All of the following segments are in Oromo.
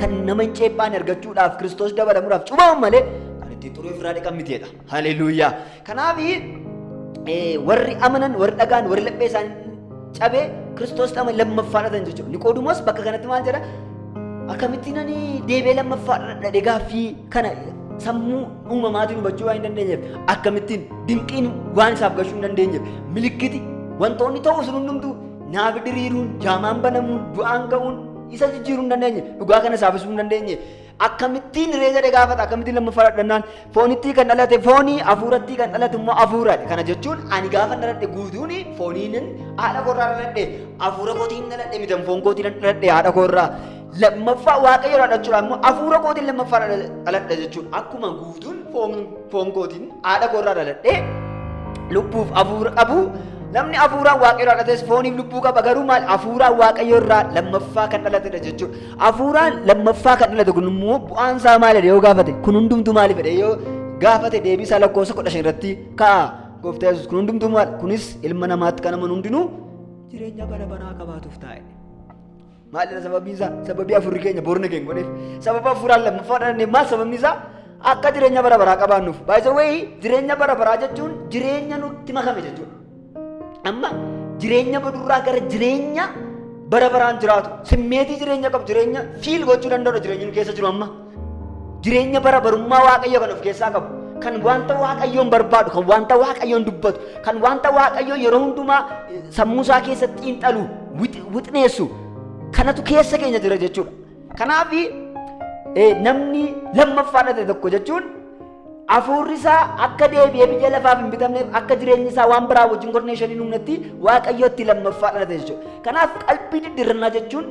Kan nama hin ceephaane argachuudhaaf Kiristoos dabalamuudhaaf cubamu malee kan ittiin xuruu ofirraa dhiqan miteedha. Haleluuyaa. Kanaaf warri amanan, warri dhagaan, warri laphee isaanii cabee Kiristoos dhama lammaffaa dhatan jechuudha. Niqoodumoos bakka kanatti maal jedha? Akkamittiin ani deebi'ee lammaffaa dhadhe gaaffii kana sammuu uumamaatiin hubachuu waan hin dandeenyeef akkamittiin dinqiin waan isaaf gashuu hin dandeenyeef milikkiti wantoonni ta'uu sun hundumtuu naafi diriiruun jaamaan banamuun du'aan ga'uun Isa jijjiiruu hin dandeenye, dhugaa kana saafisuu hin dandeenye. Akkamittiin hiree jedhee gaafata, akkamittiin lammaffaa dhadhannaan foonittii kan dhalate foonii, hafuurattii kan dhalate immoo hafuuraadha. Kana jechuun ani gaafa dhaladhe guutuun fooniinin haadha koorraa dhaladhe, hafuura kootiin dhaladhe mitan foon kootiin dhaladhe haadha koorraa. Lammaffaa waaqayyo dhaladhuudhaan immoo hafuura kootiin lammaffaa dhaladhe jechuun akkuma guutuun foon Foon kootiin haadha koorraa dhaladhee lubbuuf hafuura qabu. Namni hafuuraan waaqayyoo dhalates fooniif lubbuu qaba garuu maal hafuuraan waaqayyoo irraa lammaffaa kan dhalatedha jechuudha. Hafuuraan lammaffaa kan dhalate kun immoo bu'aan isaa maalidha yoo gaafate kun hundumtuu maaliif jedhee yoo gaafate deebii isaa lakkoofsa kudha shan irratti ka'a. Gooftaa Yesuus kun hundumtuu maal kunis ilma namaatti kan amanu hundinuu jireenya bara baraa qabaatuuf taa'e. Maalidha sababiin isaa? Sababii afurri keenya boorna keenya godheef. Sababa afuraan lammaffaa dhalanne maal sababni isaa? Akka jireenya bara baraa qabaannuuf. Baay'isa wayii jireenya bara baraa jechuun jireenya nutti makame jechuudha. Amma jireenya badurraa gara jireenya bara baraan jiraatu simmeetii jireenya qabu jireenya fiil gochuu danda'udha jireenya nu keessa jiru amma. Jireenya bara barummaa Waaqayyoo kan of keessaa qabu. Kan wanta Waaqayyoon barbaadu, kan wanta Waaqayyoon dubbatu, kan wanta Waaqayyoo yeroo hundumaa eh, sammuu isaa keessatti xiinxalu, wix- wixneessu kanatu keessa keenya jira jechuudha. Kanaaf namni lammaffaa dhalate tokko jechuun Hafuurri isaa akka deebi'ee biyya lafaaf hin bitamneef akka jireenyi isaa waan biraa wajjin korneeshan hin humnetti waaqayyootti lammaffaa dhalate jechuudha. Kanaaf qalbii diddirrannaa jechuun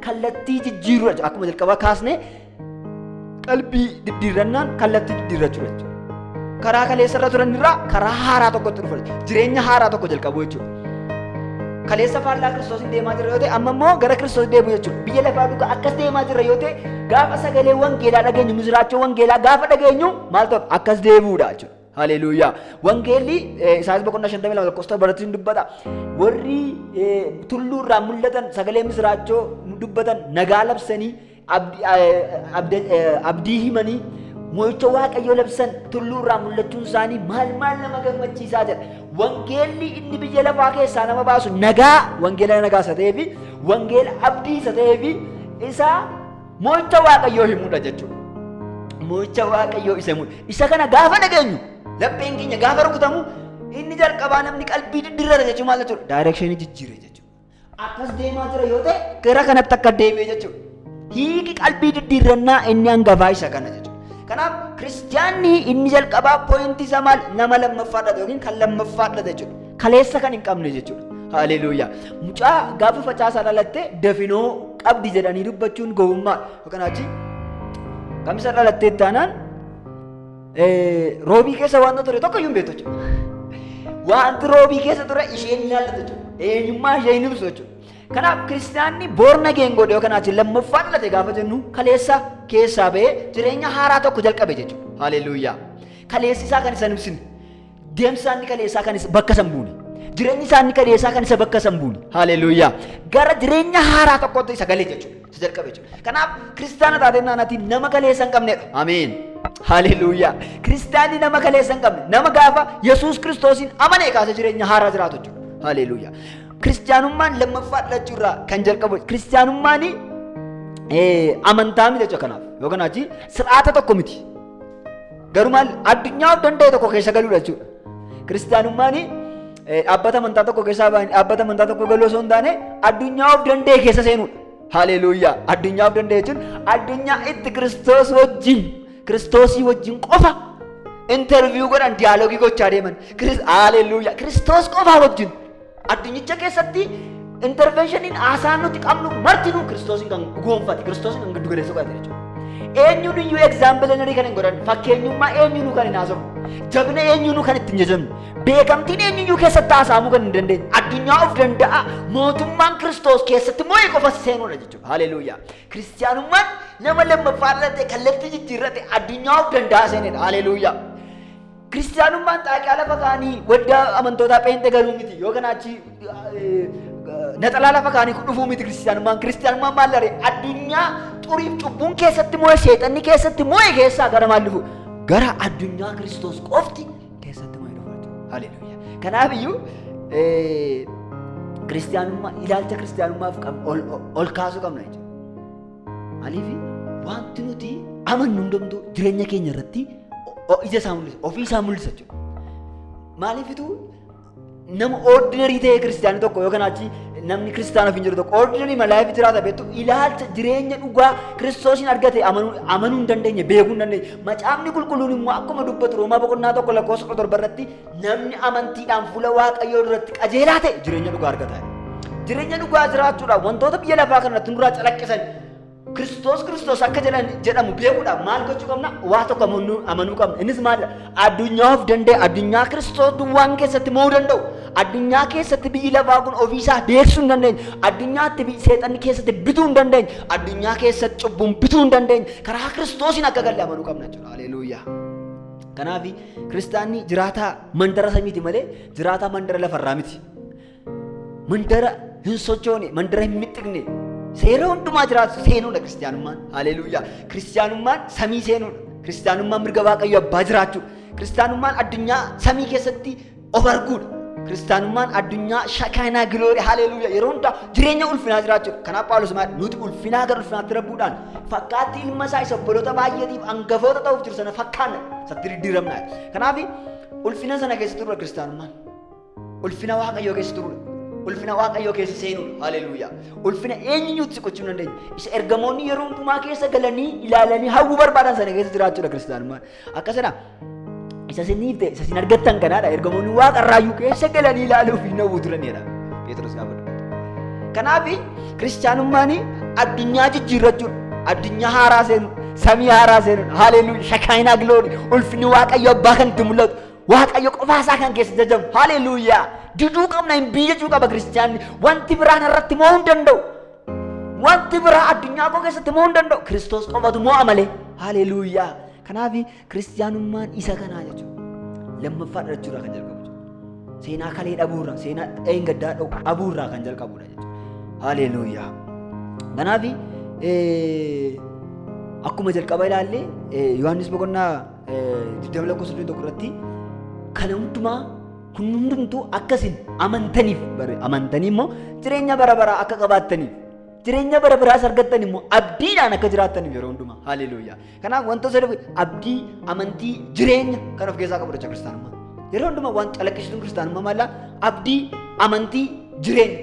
kallattii jijjiirudha jechuudha. Akkuma jalqabaa kaasne qalbii diddirrannaan kallattii diddirrachuudha jechuudha. Karaa kaleessa irra turan irraa karaa haaraa tokkotti dhufa jechuudha. Jireenya haaraa tokko jalqabu jechuudha. kaleessa faallaa kiristoosiin deemaa jirra yoo ta'e amma immoo gara kiristoos deemu jechuudha biyya lafaa dhugaa akkas deemaa jirra yoo ta'e gaafa sagalee wangeelaa dhageenyu misiraachoo wangeelaa gaafa dhageenyu maal ta'u akkas deemuudha jechuudha haleluuyaa wangeelli isaas boqonnaa shantamii lama lakkoofsa torbatti hin dubbata warri tulluu irraa mul'atan sagalee misiraachoo dubbatan nagaa labsanii Abdi- eh, abda- eh, abdii himanii mo'icha waaqayyoo labsan tulluu irraa mul'achuun isaanii maal maal nama gammachiisaa jedha wangeelli inni biyya lafaa keessaa nama baasu nagaa wangeela nagaa isa ta'ee fi wangeela abdii isa ta'ee fi isa mo'icha waaqayyoo himudha jechuudha. Mo'icha waaqayyoo isa himudha. Isa kana gaafa dhageenyu lapheen keenya gaafa rukutamu inni jalqabaa namni qalbii diddirrata jechuun maal jechuudha? Daayirekshinii jijjiire jechuudha. Akkas deemaa jira yoo ta'e gara kanatti akka deebi'e jechuudha. Hiiki qalbii diddiirrannaa inni hangafaa isa kana jechuudha. Kanaaf kiristiyaanni inni jalqabaa pooyintii isaa maal nama lammaffaa dha yookiin kan lammaffaa dha jechuudha. Kaleessa kan hin qabne jechuudha. Haleluuyaa. Mucaa gaafa facaasaa dhalatte dafinoo qabdi jedhanii dubbachuun gowwummaa yookaan achi kamisa dhalattee taanaan Roobii keessa wanta ture tokko iyyuu hin beektu jechuudha. Wanti roobii keessa ture isheen hin yaadatu jechuudha. Eenyummaa ishee hin ibsu jechuudha. Kanaaf kiristaanni boorna geengoodha yookaan ati lammaffaa dhalate gaafa jennu kaleessa keessaa ba'ee jireenya haaraa tokko jalqabe jechuudha. Haleluuyaa. Kaleessi isaa kan isa hin ibsine. Deemsi isaa inni kaleessaa kan isa bakka san buune. Jireenyi isaa inni kaleessaa kan isa bakka san buune. Haleluuyaa. Gara jireenya haaraa tokkotti isa gale jechuudha. Isa jalqabe jechuudha. Kanaaf kiristaana taatee naanati nama kaleessa hin qabnedha. Ameen. Haleluuyaa. Kiristaanni nama kaleessa hin qabne. Nama gaafa Yesuus Kiristoosiin amane kaasa jireenya haaraa jiraatu jechuudha. Haleluuyaa. Kiristaanummaan lammaffaa dhalachuu irraa kan jalqabu kiristaanummaan amantaa miti jechuudha kanaaf. Yookaan achi sir'aata tokko miti. Garuu maal addunyaa of danda'e tokko keessa galuudha jechuudha. Kiristaanummaan dhaabbata amantaa tokko keessa dhaabbata amantaa tokko galuu osoo hin taane addunyaa of danda'e keessa seenuudha. Haleeluuyaa! Addunyaa of danda'e jechuun addunyaa itti kiristoos wajjin kiristoosii wajjin qofa interviiyuu godhan diyaaloogii gochaa deeman. Haleeluuyaa! Kiristoos qofaa wajjin. Addunyicha keessatti intervenshiniin haasaan nuti qabnu martinuu kiristoosiin kan goonfate kiristoosiin kan giddu galeessa godhate jechuudha. Eenyuun iyyuu egzaampilenarii kan hin godhan fakkeenyummaa eenyuunuu kan hin haasofne jabina eenyuunuu kan ittiin jajamne beekamtiin eenyuyyuu keessatti haasa'amuu kan hin dandeenye addunyaa of danda'a mootummaan kiristoos keessatti moo'ee qofa seenuudha jechuudha. Haleeluuyaa. Kiristiyaanummaan nama lammaffaa irratti kallattii jijjiirratti addunyaa of danda'a seenedha. Haleeluuyaa. Kiristiyaanummaan xaaqiyaa lafa kaanii waddaa amantootaa pheenxe galuu miti yoo kana achi naxalaa lafa kaanii dhufuu miti kiristiyaanummaan. Kiristiyaanummaan maal dharee addunyaa xuriif cubbuun keessatti moo'e seexanni keessatti moo'e keessaa gara maal dhufu? Gara addunyaa Kiristoos qofti keessatti moo'e dhufaa jiru. Haleluuyaa. Kanaaf iyyuu kiristiyaanummaa ilaalcha kiristiyaanummaaf ol kaasuu qabna jechuudha. Maaliif wanti nuti amannu hundumtuu jireenya keenya irratti o- ija isaa mul'isa, ofii isaa mul'isa jechuudha. Maaliifitu nama ordinarii ta'ee kiristaanii tokko yookaan achi namni kiristaana ofiin jiru tokko ordinarii malaayiif jiraata beektu ilaalcha jireenya dhugaa kiristoosiin argate amanuu amanuu hin dandeenye beekuu hin dandeenye macaafni qulqulluun immoo akkuma dubbatu roomaa boqonnaa tokko lakkoofsa kudha torba irratti Namni amantiidhaan fuula Waaqayyoo duratti qajeelaa ta'e jireenya dhugaa argata. Jireenya dhugaa jiraachuudhaaf wantoota biyya lafaa kanarratti nurraa calaqqisan Kiristoos Kiristoos akka jedhan jedhamu beekuudhaaf maal gochuu qabna? Waa tokko amanuu amanuu qabna. Innis maalidha? Addunyaa of danda'e, addunyaa Kiristoos duwwaan keessatti mo'uu danda'u, addunyaa keessatti biyyi lafaa kun ofiisaa beeksisuu hin dandeenye, addunyaatti biyyi seexanni keessatti bituu hin dandeenye, addunyaa keessatti cubbuun bituu hin dandeenye, karaa Kiristoosiin akka galle amanuu qabna jechuudha. Haleeluuyaa. Kanaaf Kiristaanni jiraataa mandara samiiti malee jiraataa mandara lafarraa miti. Mandara hin sochoone, mandara hin mixxiqne, seera hundumaa jiraatu seenuudha kiristaanummaan. Haleeluuyaa! Kiristaanummaan samii seenuudha. Kiristaanummaan mirga Waaqayyo abbaa jiraachuu. Kiristaanummaan addunyaa samii keessatti of arguudha. Kiristaanummaan addunyaa shakaanaa giloori haleeluuya yeroo hundaa jireenya ulfinaa jiraachuudha. Kanaaf Phaawulos maal nuti ulfinaa gara ulfinaatti rabbuudhaan fakkaattii ilma isaa isa obboloota baay'eetiif angafoota ta'uuf jiru sana fakkaanna isatti diddiiramnaa. Kanaaf ulfina sana keessa turudha kiristaanummaan. Ulfina waaqayyoo keessa turudha. Ulfina waaqayyoo keessa seenudha. Haleeluuya. Ulfina eenyuutti siqachuu hin dandeenye. Isa ergamoonni yeroo hundumaa keessa galanii ilaalanii hawwuu barbaadan sana keessa jiraachuudha kiristaanummaan. Akkasidha. Isa isin dhiifte, isa isin argattan kanaadha. Ergamoonni waaqa irraayyuu keessa galanii ilaaluuf hin hawwu turanidha. Pheexroos gaafa dubbatu. Kanaaf kiristaanummaan addunyaa jijjiirrachuun, addunyaa haaraa seenuun, samii haaraa seenuun, haaleeluu, shakaayinaa gilooni, ulfinni waaqayyo abbaa kan itti mul'atu, waaqayyo qofaa isaa kan keessa jajamu, haaleeluuyaa. Diduu qabna hin biyyachuu qaba kiristaanni. Wanti biraan irratti mo'uu hin danda'u. Wanti biraa addunyaa koo keessatti mo'uu hin danda'u. Kiristoos qofatu mo'a malee. Haleluuyaa. Kanaaf kiristiyaanummaan isa kanaa jechuudha. Lammaffaa dhalachuurraa kan jalqabu jechuudha. Seenaa kalee dhabuurraa, seenaa dheengaddaa dhabuurraa kan jalqabudha jechuudha. Haleluuyaa. Kanaaf akkuma jalqaba ilaalle Yohaannis boqonnaa 20 lakkoofsa 21 irratti kana hundumaa Kun hundumtuu akka isin amantaniif bare amantanii immoo jireenya bara baraa akka qabaattaniif jireenya bara biraas argattan immoo abdiidhaan akka jiraattaniif yeroo hundumaa haleluuyaa. Kanaaf wanta sadaf abdii, amantii, jireenya kan of keessaa qabu jecha kiristaanummaa. Yeroo hundumaa waan calaqqisiisuun kiristaanummaa maalla abdii, amantii, jireenya.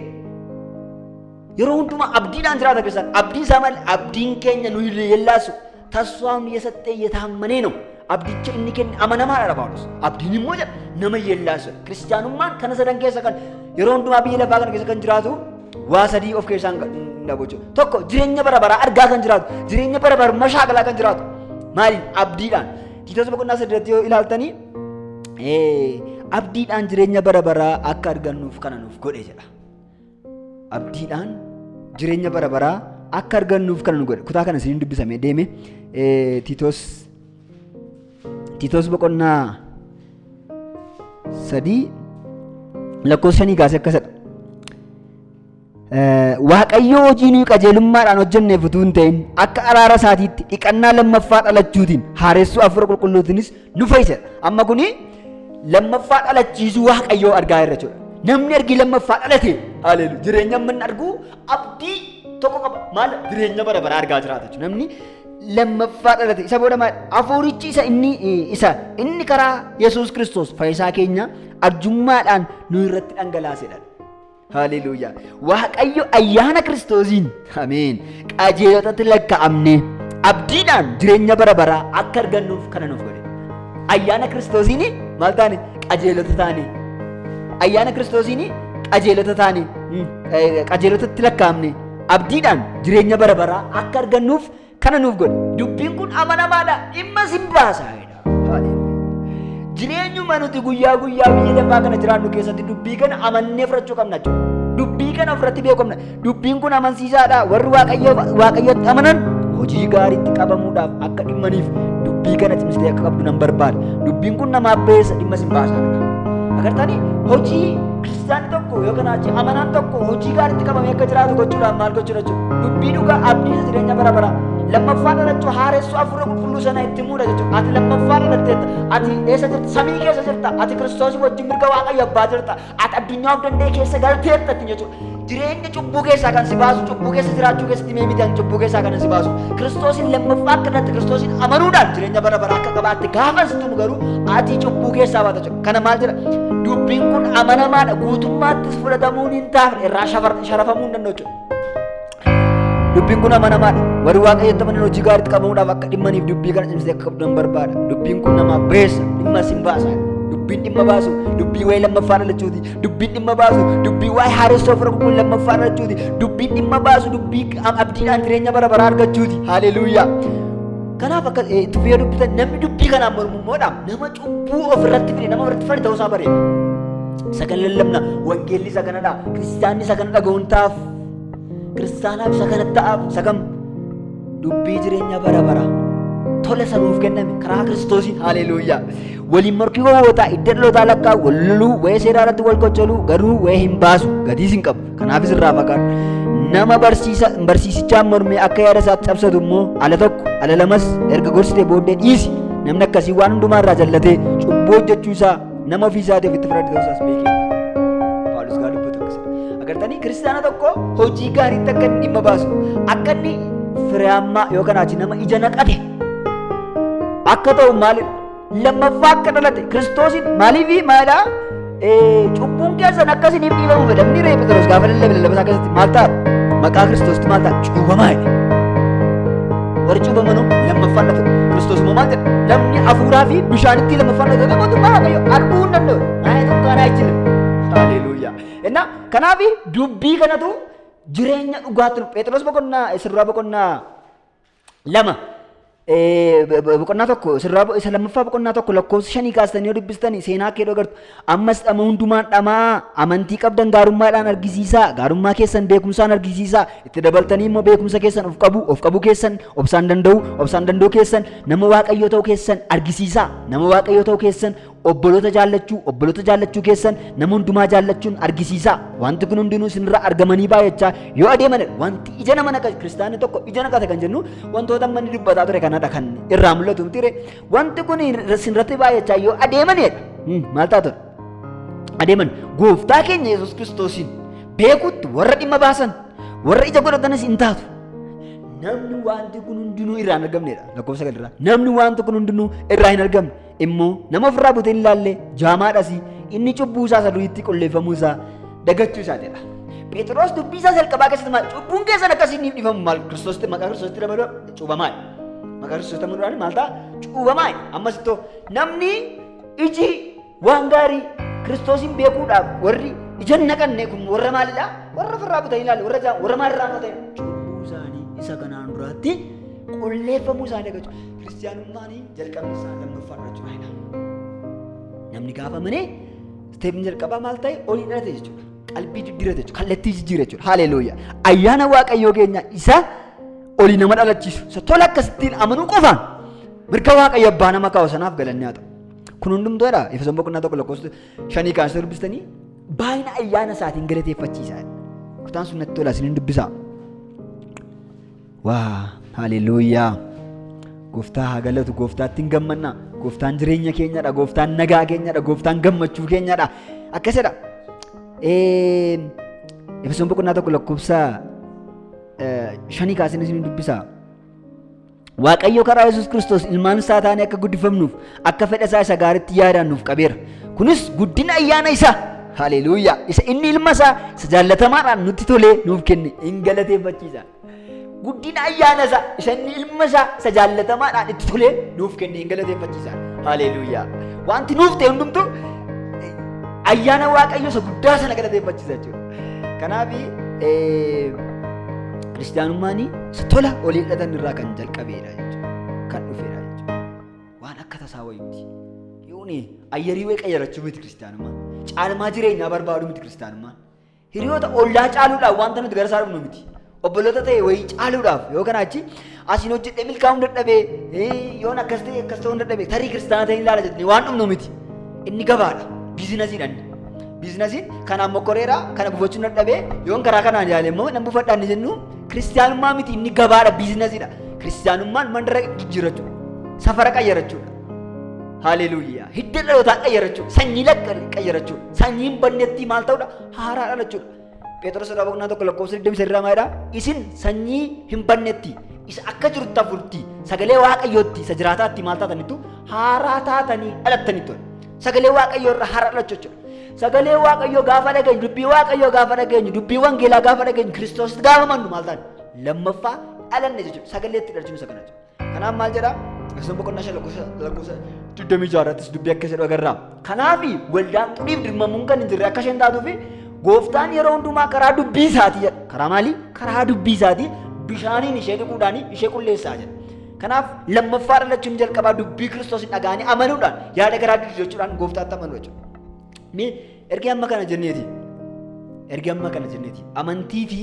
Yeroo hundumaa abdiidhaan jiraata kiristaan abdiin isaa maal abdiin keenya nu hin yeellaasu. Tasfaam yesaxxee yetaammanee ነው abdicha inni kenne amanamaa dha Phaawulos. Abdiin immoo jedha nama yeellaasa. Kiristiyaanummaan kana sadan keessa kan yeroo hundumaa biyya lafaa kana keessa kan jiraatu waa sadii of keessaan dhabu jechuudha. Tokko jireenya bara baraa argaa kan jiraatu, jireenya bara baraa mashaakalaa kan jiraatu. Maali? Abdiidhaan. Tiitoos boqonnaa saddeetti yoo ilaaltanii abdiidhaan jireenya bara baraa akka argannuuf kana nuuf godhe jedha. abdiidhaan jireenya bara baraa akka argannuuf kana nu godhe kutaa kana isiniin dubbisame deeme eh, tiitoos tiitoos boqonnaa sadii lakkoofsa shanii kaasee akka sadha Eh, waaqayyo hojii nuyi qajeelummaadhaan hojjenneef utuu hin ta'in akka araara isaatiitti dhiqannaa lammaffaa dhalachuutiin haaressuu hafuura qulqulluutiinis nu fayyisa. Amma kuni lammaffaa dhalachiisuu waaqayyoo argaa irra jira. Namni ergi lammaffaa dhalate haleelu jireenya amma inni argu abdii tokko qaba. Maal jireenya bara baraa argaa jiraata jechuudha. Namni lammaffaa dhalate isa booda maal hafuurichi isa inni isa inni karaa Yesuus Kiristoos fayyisaa keenya arjummaadhaan nu irratti dhangalaasedha. Haleluuyaa. Waaqayyo ayyaana Kiristoosiin. Ameen. Qajeelotatti lakkaa'amnee abdiidhaan jireenya bara baraa akka argannuuf kana nuuf godhe. Ayyaana Kiristoosiin maal taane qajeelota taane. Ayyaana Kiristoosiin qajeelota taane. Qajeelotatti lakkaa'amne abdiidhaan jireenya bara baraa akka argannuuf Kana nuuf godhe. Dubbiin kun amanamaadha. Dhimma sin baasa. Jireenyuma nuti guyyaa guyyaa biyya lafaa kana jiraannu keessatti dubbii kana amannee fudhachuu qabna jechuudha. Dubbii kana ofirratti beekamna. Dubbiin kun amansiisaadha. Warri waaqayyotti amanan hojii gaariitti qabamuudhaaf akka dhimmaniif dubbii kana cimsitee akka qabdu nan barbaada. Dubbiin kun nama abbeessa dhimma sin baasa. Agartanii hojii Kiristaanni tokko yookaan achi amanaan tokko hojii gaariitti qabamee akka jiraatu gochuudhaan maal gochuudha jechuudha. Dubbii dhugaa abdii isa jireenya bara baraa. Lammaffaa dhalachuu haaressuu hafuura qulqulluu sana itti muudha jechuudha. Ati lammaffaa dhalatteetta. Ati eessa jirta? Samii keessa jirta. Ati Kiristoos wajjin mirga waaqayyo abbaa jirta. Ati addunyaa of danda'e keessa galteetta ittiin jechuudha. Jireenya cubbuu keessaa kan si baasu, cubbuu keessa jiraachuu keessatti mee miidhan cubbuu keessaa kan si baasu. Kiristoosiin lammaffaa akka dhatte Kiristoosiin amanuudhaan jireenya bara baraa akka qabaatte gaafa situ garuu ati cubbuu keessaa baata jechuudha. Kana maal jedha? Dubbiin kun amanamaadha. Guutummaattis fudhatamuun hin taafne irraa shafar- sharafamuu hin danda'u jechuudha. Dubbiin kun amanamaadha. Warri waaqayyotti amanan hojii gaariitti qabamuudhaaf akka dhimmaniif dubbii kana cimsee akka qabdan barbaada. Dubbiin kun namaaf beessa, dhimma isin baasa. Dubbiin dhimma baasu, dubbii waa'ee lammaffaa dhalachuuti. Dubbiin dhimma baasu, dubbii waa'ee haaressoo fira kun lammaffaa dhalachuuti. Dubbiin dhimma baasu, dubbii ab- abdiidhaan jireenya bara baraa argachuuti. Haaleluuyaa. Kanaaf akka eh, itti fayyadamtan namni dubbii kanaan mormu immoo dhaam. Nama cubbuu ofirratti fide nama irratti fari ta'uusaa bareeda. Isa kan lallabna wangeelli isa kanadha. Kiristaanni isa kana dhaga'uun ta'aaf. Kiristaanaaf isa kana ta'aaf isa kam dubbii jireenya bara bara. Tola isa nuuf kenname karaa kiristoosiin haleeluuyyaa. Waliin morkii gowwootaa idda dhalootaa lakkaa wal loluu wa'ee seeraa irratti wal qoccoluu garuu wa'ee hin baasu gadiis hin qabu. Kanaafis irraa fagaadhu. Nama barsiisa barsiisichaan mormee akka yaada isaatti cabsatu immoo ala tokko ala lamas erga gorsitee booddee dhiisi. Namni akkasii waan hundumaa irraa jallatee cubbuu hojjechuu isaa nama ofii isaatiif itti fayyadu ta'uu isaas beekee. Phaawulos gaa dubbatu akkasuma. Agartanii kiristaana tokko hojii gaariitti akka inni dhimma baasu akka inni firiyaammaa yookaan achi nama ija naqate akka ta'u maalidha? lammaffaa akka dhalate kiristoosiin maaliifi maalaa cubbuun keessan akkasiniif dhiifamu fedha inni reefu ta'us gaafa lallabe lallabasaa keessatti maal ta'a maqaa kiristoositti maal ta'a cuubamaa jedhe warri cuubamanuu lammaffaan dhalate kiristoos immoo maal jedhe namni hafuuraa fi bishaanitti lammaffaan dhalate mootummaa waaqayyo arguu hin danda'u maayee tokko kanaa jira haleeluuyaa innaa kanaaf dubbii kanatu jireenya dhugaatti nu phexros boqonnaa isirraa boqonnaa lama boqonnaa tokko sirraa isa lammaffaa boqonnaa tokko lakkoofsa shanii kaastanii yoo dubbistanii seenaa kee agartu ammas dhama hundumaan dhamaa amantii qabdan gaarummaadhaan argisiisaa gaarummaa keessan beekumsaan argisiisaa itti dabaltanii immoo beekumsa keessan of qabu of qabu keessan obsaan danda'u obsaan danda'u keessan nama waaqayyoo ta'u keessan argisiisaa nama waaqayyoo ta'u keessan Obboloota jaallachuu, obboloota jaallachuu keessan nama hundumaa jaallachuun argisiisaa. Wanti kun hundinuu isinirraa argamanii baay'achaa yoo adeeman wanti ija nama naqa kiristaanni tokko ija naqata kan jennu wantoota manni dubbataa ture kanadha kan irraa mul'atu miti ree. Wanti kun isinirratti baay'achaa yoo adeemanidha. Hmm, Maal taatu? Adeeman gooftaa keenya Yesuus Kiristoosiin beekuutti warra dhimma baasan warra ija godhatanis hin taatu. Namni wanti kun hundinuu irraa hin argamnedha. Lakkoofsa galirraa. Namni wanti kun hundinuu irraa hin argamne. immoo nama ofirraa butee hin laalle jaamaadhas inni cubbuu isaa isa duriitti qulleeffamuu isaa dagachuu isaatidha. Phexros dubbii isaa jalqabaa keessatti maal cubbuun keessan akkasii ni dhifamu maal kiristoositti maqaa kiristoositti dabaluu cuubamaadha. Maqaa kiristoositti dabaluu maal ta'a cuubamaadha. Ammas ittoo namni iji waan gaarii kiristoosiin beekuudhaaf warri ija hin naqanne kun warra maalidha? Warra ofirraa butanii ilaalle warra jaa warra maal irraa fudhatan cubbuu isaanii isa kanaan duraatti qulleeffamuu isaa dagachuu. Kiristiyaanummaan jalqabni isaa lammaffaa irra jira jedha. Namni gaafa amanee isteepni jalqabaa maal ta'e olii dhalate jechuudha. Qalbii jijjiirate jechuudha. Kallattii jijjiira jechuudha. Haleeluyyaa. Ayyaana Waaqayyoo keenya isa olii nama dhalachiisu. Isa tola akkasittiin amanuu qofaan mirga Waaqayyo abbaa nama kaa'u sanaaf galanni haa ta'u. Kun hundumtuu jedha. Efesoon boqonnaa tokko lakkoofsa shanii kaasee dubbistanii baay'ina ayyaana isaatiin galateeffachiisaa. Kutaan sun natti tola isin hin dubbisaa. Waa haleluuyaa gooftaa haa galatu gooftaattiin gammanna gooftaan jireenya keenyadha gooftaan nagaa keenyadha gooftaan gammachuu keenyadha akkasidha Efesoon boqonnaa tokko lakkoofsa shanii kaasee isin dubbisa. Waaqayyo karaa Yesuus Kiristoos ilmaan isaa taanee akka guddifamnuuf akka fedha isaa isa gaariitti yaadaan nuuf qabeera. Kunis guddina ayyaana isaa haleluuyaa isa inni ilma isaa isa jaallatamaadhaan nutti tolee nuuf kenne hin galateeffachiisa. Guddina ayyaana isaa isa inni ilma isaa isa jaallatamaadhaan itti tolee nuuf kenne hin galateeffachiisaan. Haleeluuyaa. Wanti nuuf ta'e hundumtu ayyaana waaqayyo isa guddaa sana galateeffachiisa jechuudha. Kanaaf kiristaanummaan isa tola olii hidhatan irraa kan jalqabeedha jechuudha. Kan dhufeedha jechuudha. Waan akka tasaa wayitti. Yooni ayyarii wayii qayyarachuu miti kiristaanummaan. Caalmaa jireenyaa barbaaduu miti kiristaanummaan. Hiriyoota ollaa caaluudhaaf wanta nuti gara isaa dhufnu miti. Obboloota ta'e wayii caaluudhaaf yoo kanaa achi asiin hojjedhee milkaa'uu hin dadhabee yoon akkas ta'e akkas ta'uu hin dadhabee tarii kiristaana ta'e hin ilaala jedhanii waan dhumnu miti. Inni gabaadha. Biizinasiidha inni. Biizinasiin kanaan mokkoreera kana buufachuu hin dadhabee yoon karaa kanaan ilaale immoo nan buufadha inni jennu kiristaanummaa miti inni gabaadha biizinasiidha. Kiristaanummaan mandara jijjiirrachuu safara qayyarachuudha. Haleeluuyaa. Hidda dhalootaa qayyarachuudha. Sanyii lakka qayyarachuudha. Sanyiin bannettii maal ta'udha? Haaraa dhalachuudha. Pheexroos irraa boqonnaa tokko lakkoofsa 20 irraa maalidha? Isin sanyii hin bannetti isa akka jirtu hafuurti sagalee waaqayyootti isa jiraataatti maal taatanitu haaraa taatanii dhalattanitu. Sagalee waaqayyoo irraa haaraa dhalachuu jechuudha. Sagalee waaqayyoo gaafa dhageenyu dubbii waaqayyoo gaafa dhageenyu dubbii wangeelaa gaafa dhageenyu kiristoositti gaafa mannu maal taane lammaffaa dhalanne jechuudha. Sagalee itti dhalchuun isa kana jechuudha. Kanaaf maal jedha? Efesoon boqonnaa shan lakkoofsa lakkoofsa digdamii ja'a irrattis dubbii akka jedhu agarra. Kanaaf waldaan xuriif dirmamuun kan hin jirre akka isheen taatuu fi gooftaan yeroo hundumaa karaa dubbii isaatii jedha. Karaa maalii? Karaa dubbii isaatii bishaaniin ishee dhiquudhaan ishee qulleessaa jedha. Kanaaf lammaffaa dhalachuun jalqabaa dubbii kiristoosiin dhaga'anii amanuudhaan yaada garaa diduu jechuudhaan gooftaatti amanuu jechuudha. Mee ergi amma kana jenneeti. Ergi amma kana jenneeti. Amantii fi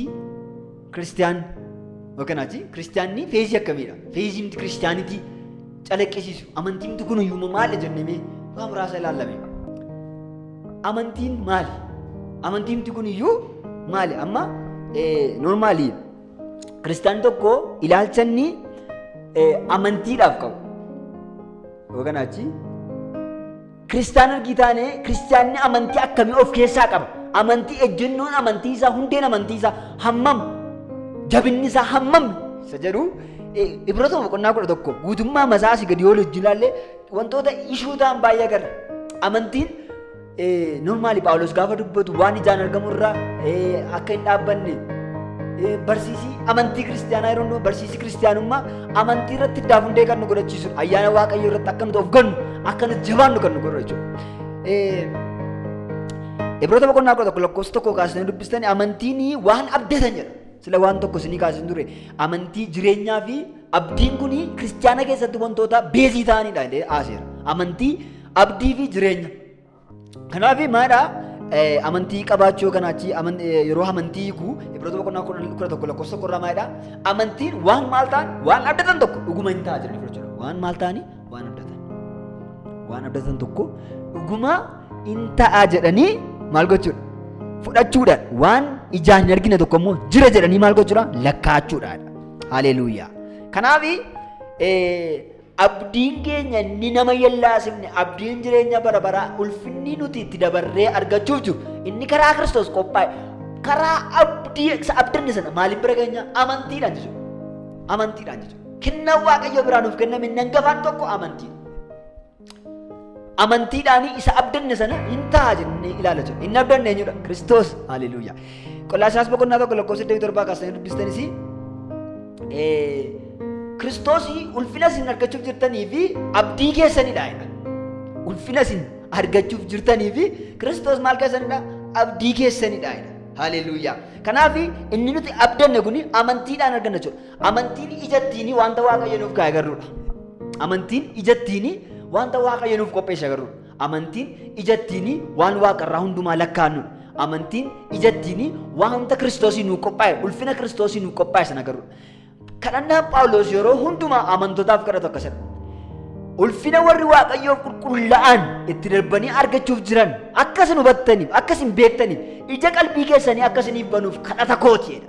Kiristiyaan yookaan ati kiristiyaanni feezii akkamiidha? Feezii miti kiristiyaanitii calaqqisiisu. Amantiin miti kun uumama maali jennee waa muraasa ilaallame. Amantiin maali? Amantiin miti kun iyyuu maali? Amma noormaali kiristiyaan tokko ilaalcha inni amantiidhaaf qabu. Yookaan achi Kiristaana ergii taane kiristaanni amantii akkamii of keessaa qaba? Amantii ejjennoon amantii isaa hundeen amantii isaa hammam? Jabinni isaa hammam? Isa jedhu Ibroota boqonnaa kudha tokko guutummaa masaa asii gadi yoo hojii ilaallee wantoota ishuu ta'an baay'ee agarra. Amantiin normaali Paawulos gaafa dubbatu waan ijaan argamu irraa akka hin dhaabbanne barsiisii amantii kiristaanaa yeroo barsiisii kiristaanummaa Amantii irratti iddaaf hundee kan nu godhachiisudha. Ayyaana Waaqayyoo irratti akka nuti of gannu, akka nuti jabaannu kan nu godhu jechuudha. Ibroota boqonnaa kudha tokko lakkoofsa tokko kaasanii dubbistanii amantiin waan abdatan jedha. Sila waan tokko isinii kaasanii ture. Amantii jireenyaa fi abdiin kun kiristaana keessatti wantoota beezii ta'anidha jedhee haaseera. Amantii, abdii fi jireenya. Kanaaf maadha amantii qabaachuu yookaan achii yeroo amantii hiiku Ibroota boqonnaa kudha tokko lakkoofsa qorraa maadha amantiin waan maal ta'an waan abdatan tokko dhuguma hin ta'a jedhanii fudhachuu dha. Waan maal ta'anii waan abdatan. Waan abdatan tokko dhuguma hin ta'a jedhanii maal gochuudha? Fudhachuudhaan waan ijaan hin argine tokko immoo jira jedhanii maal gochuudha? Lakkaachuudhaan. Haleeluuyaa. Kanaaf Abdiin keenya inni nama hin yellaasifne, abdiin jireenya bara baraa, ulfinni nuti itti dabarree argachuuf jiru, inni karaa Kiristoos qophaa'e, karaa abdii isa abdanne sana maaliin bira keenya? Amantiidhaan jechuudha. Amantiidhaan jechuudha. Kennaan Waaqayyoo biraa nuuf kenname inni hangafaan tokko amantiidha. amantiidhaanii isa abdanne sana hin ta'a jennee ilaala jirra. Inni abdanne eenyudha? Kiristoos. Haleluuyaa. Qolaasaas boqonnaa tokko lakkoofsa 27 kaasanii dubbistanis Kiristoos ulfina isin argachuuf jirtanii fi abdii keessanidha. Ulfina isin argachuuf jirtanii fi Kiristoos maal keessanidha? Abdii keessanidha. Haleluuyaa. Kanaaf inni nuti abdanne kun amantiidhaan arganna jechuudha. Amantiin ija ittiin wanta Waaqayyo nuuf kaa'e agarruudha. Amantiin ija ittiin wanta Waaqayyo nuuf qopheesse agarruudha. Amantiin ija ittiin waan waaqarraa hundumaa lakkaa'annuudha. Amantiin ija ittiin wanta Kiristoosii nuuf qophaa'e, ulfina Kiristoosii nuuf qophaa'e sana agarruudha. Kadhannaan Phaawulos yeroo hundumaa amantootaaf kadhatu akkasidha. Ulfina warri Waaqayyoof qulqullaa'an itti darbanii argachuuf jiran akka isin hubattaniif, akka isin beektaniif, ija qalbii keessanii akka isiniif banuuf kadhata kooti jedha.